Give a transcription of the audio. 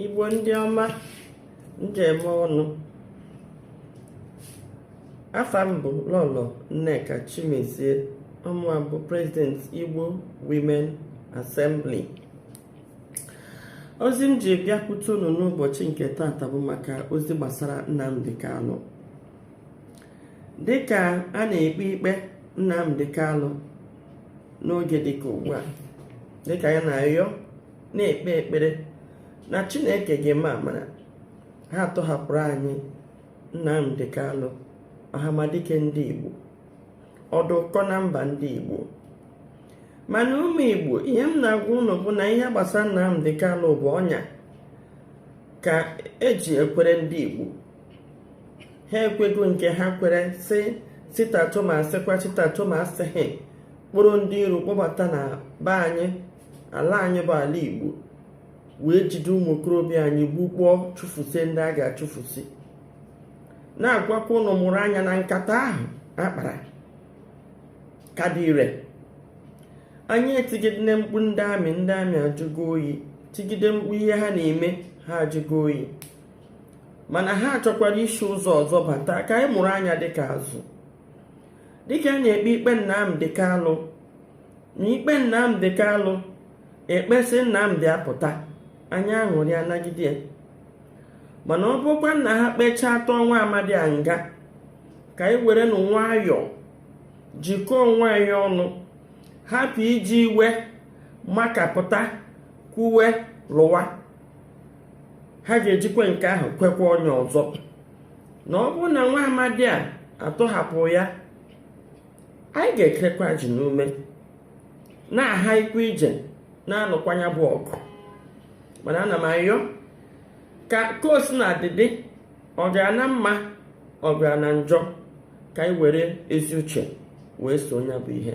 igbo ndị ọma m ji eme ọnụ afa m bụ lọlọ nneka chimezie ọ mụwa bụ prezident igbo women assembly ozi m ji bịakwute unu n'ụbọchị nke taata bụ maka ozi gbasara nnamdi kalụ dịka a na-ekpe ikpe nnamdi kalụ n'oge dịka ugbu a dịka anyị na-ayọ na-ekpe ekpere na chineke ga-eme amara ha atọhapụrụ anyị nnamdi kalụ ọhamadike ndị igbo ọdị ụkọ na mba ndị igbo mana ụmụ igbo ihe m na-agwa unu bụ na ihe gbasara nnamdi kalụ bụ ọnya ka eji ekwere ndị igbo ha ekwego nke ha kwere si sit at home asịkwa sit at home asịghị kpụrụ ndị iro kpọbata na be anyị ala anyị bụ ala igbo wee jide ụmụ okorobịa anyị gbukpọọ chụfusie ndị a ga-achụfusi na-agwakwa unu mụrụ anya na nkata ahụ akpara ka dị ire anyị etigide mkpu ndị amị ndị amị ajụgo oyi tigide mkpu ihe ha na-eme ha ajụgo oyi mana ha chọkwara isi ụzọ ọzọ bata ka anyị mụrụ anya dịka azụ dịka a na-ekpe ikpe Nnamdi Kalụ na ikpe Nnamdi Kalụ ekpesị Nnamdi apụta anyị aṅụrịa nagide ya mana ọ bụkwanụ na ha kpechaa atụọ nwa amadi a nga ka anyị werenụ nwayọọ jikọọ onwe anyị ọnụ hapụ iji iwe makapụta kwuwe lụwa ha ga-ejikwa nke ahụ kwekwa ọnya ọzọ na ọ bụrụ na nwa amadi a atọhapụ ya anyị ga-ekekwa ajị n'ume na-aha ikwu ije na-anụkwa nya bụ ọgụ mana ana m ayọ ka ka o sina dị dị ọ gara na mma ọ gara na njọ ka anyị were ezi uche wee soo nya bụ ihe